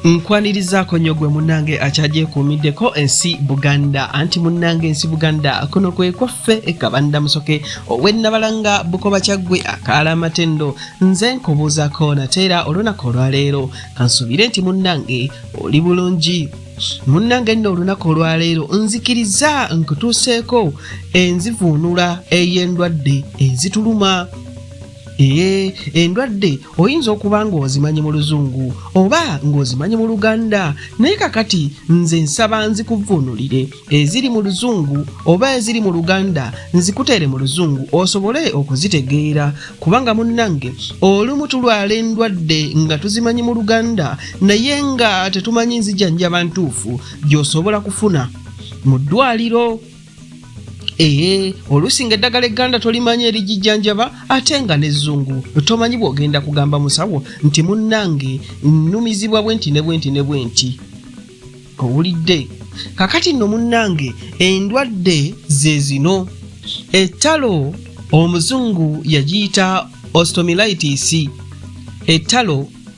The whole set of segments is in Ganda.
nkwanirizaako nnyo gwe munnange akyagyekuumiddeko ensi buganda anti munnange ensi buganda kuno kwe kwaffe ekabanda musoke owennabalanga bukoba kyaggwe akaala amatendo nze nkubuuzako nateera olunaku olwaleero kansuubire nti munnange oli bulungi munnange nno olunaku olwaleero nzikiriza nkutuuseeko enzivuunula ey'endwadde ezituluma ee endwadde oyinza okuba ng'ozimanyi mu luzungu oba ng'ozimanyi mu luganda naye kakati nze nsaba nzikuvvuunulire eziri mu luzungu oba eziri mu luganda nzikuteere mu luzungu osobole okuzitegeera kubanga munnange olumu tulwala endwadde nga tuzimanyi mu luganda naye nga tetumanyi nzijanjaba ntuufu gy'osobola kufuna mu ddwaliro Ee, oluusi nga eddagala egganda tolimanyi erigijjanjaba ate nga n'ezzungu tomanyi bw'ogenda kugamba musawo nti munnange nnumizibwa bwe nti ne bwe nti ne bwe nti owulidde kakati nno munnange endwadde ze zino ettalo omuzungu yagiyita ostomilitis ettalo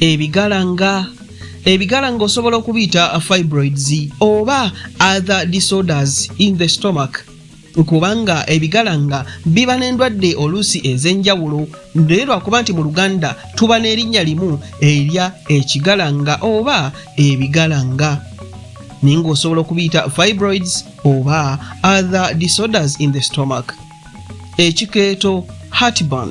ebigalanga ebigala ng'osobola okubiyita fibroids oba other disorders in the stomach kubanga ebigala nga biba n'endwadde oluusi ez'enjawulo naye lwakuba nti mu luganda tuba n'erinnya limu erya ekigalanga oba ebigalanga naye ng'osobola okubiyita fibroids oba other disorders in the stomach ekikeeto heartburn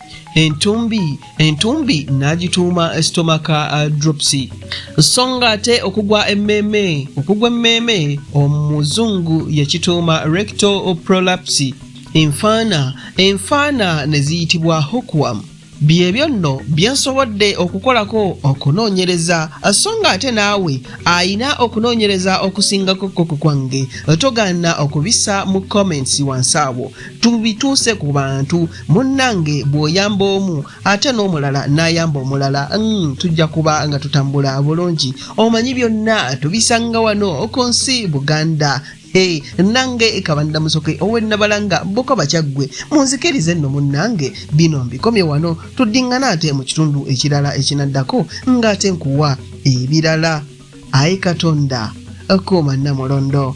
entumbi entumbi n'agituuma stomaka uh, drops so nga ate okugwa emmeeme okugwa emmeeme omuzungu yakituuma recto prolapsi enfaana enfaana ne ziyitibwa hokwam byebyo nno byensobodde okukolako okunoonyereza so nga ate naawe ayina okunoonyereza okusingako koko kwange togaana okubisa mu comments wansi awo tubituuse ku bantu munnange bw'oyamba omu ate n'omulala n'ayamba omulala mm, tujja kuba nga tutambula bulungi omanyi byonna tubisanga wano ku nsi buganda Hey, nange kabanda musoke owenabalanga bukoba kyaggwe munzikirize nno munnange bino mbikomye wano tuddingana ate mu kitundu ekirala ekinaddako ng'ate nkuwa ebirala ayi katonda kuuma namulondo